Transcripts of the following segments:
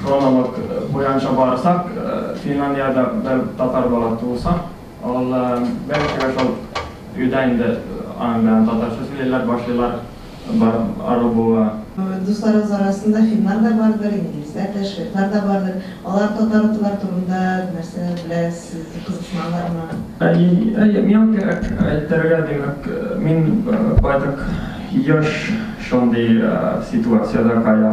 Хронолог буянча барсак, Финляндиядә бер татар бала туылса, ул беренчегә шул өйдә инде аның белән татарча сөйлиләр, башлыйлар ару булуга. Дусларыгыз арасында финнар да бардыр, инглизләр дә, шведлар да бардыр. Алар татар-ртлар турында нәрсә беләсез, кызыксыналармы? Әйе, әйе, миңа кирәк әйтергә, димәк, мин байтак еш шундый ситуациядә кая.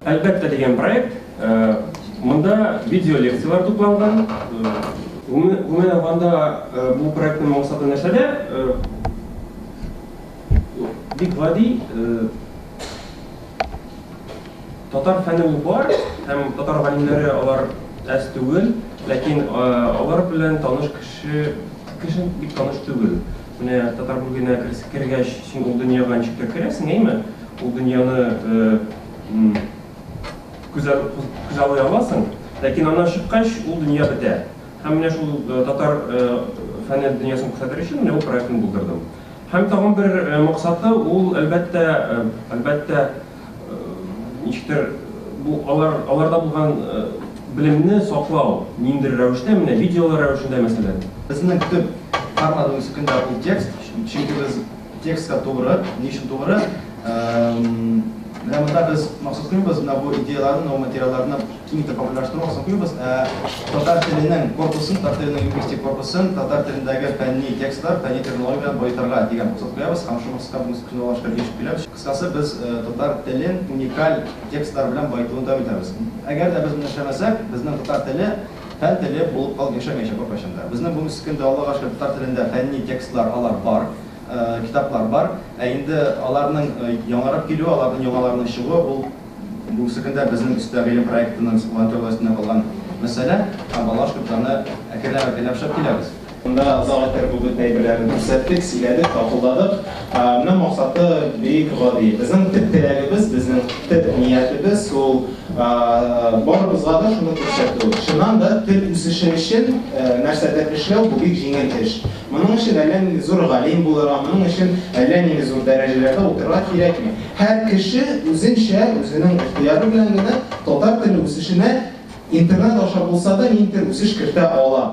Әлбәттә дигән проект. Монда видеолекцияләр тупланган. Гомумән алганда, бу проектның максаты нәрсәдә? Бик гади, татар фәнен бар һәм татар галимнәре алар әз түгел, ләкин алар белән таныш кеше, кеше бик таныш түгел. Менә татар бүлгенә кергәч, син ул дөньяга ничек тә керәсең, әйме? Ул дөньяны күзаллый аласың. Ләкин аннан чыккач, ул дөнья бетә. Һәм менә шул татар фәне дөньясын күрсәтер өчен менә бу проектны булдырдым. Һәм тагын бер максаты ул, әлбәттә, әлбәттә, Ничектер бу алар аларда булган белемне саклау ниндидер рәвештә менә видеолар рәвешендә мәсәлән. Безнең төп формат үсекендә ул текст, чөнки без текстка тугры, ни өчен тугры? Менә монда без максат куйбыз, менә бу идеяларны, бу материалларны киң итеп популярлаштыру максат куйбыз, ә татар теленең корпусын, татар теленең лингвистик корпусын, татар телендәге фәнни текстлар, фәнни терминология белән баетырга дигән максат куябыз һәм шул максатка бүген күзаллашка ирешеп киләбез. Кыскасы, без татар телен уникаль текстлар белән баетуын дәвам итәбез. Әгәр дә без моны эшләмәсәк, безнең татар теле фән теле булып калып яшәмәячәк беркайчан да. Безнең бүгенге көндә, Аллага шөкер, татар телендә фәнни текстлар алар бар, китаплар бар. Ә инде аларның яңарып килүе, аларның яңаларының чыгуы, ул бүгенге көндә безнең өстә гыйлем проектының волонтерлар өстенә калган мәсьәлә. Һәм Аллага шөкер, без аны әкренләп-әкренләп эшләп киләбез. Шунда зал иттереп бу бөтен әйберләрне күрсәттек, сөйләдек, тапылдадык. Моның максаты бик гади. Безнең төп теләгебез, безнең төп ниятебез ул барыбызга да шуны күрсәтү. Чыннан да, тел үсеше өчен нәрсәдер эшләү, бу бик җиңел эш. Моның өчен әллә нинди зур галим булырга, моның өчен әллә нинди зур дәрәҗәләрдә утырырга кирәкми. Һәр кеше үзенчә, үзенең ихтыяры белән генә татар теле үсешенә интернет аша булса да ниндидер үсеш кертә ала.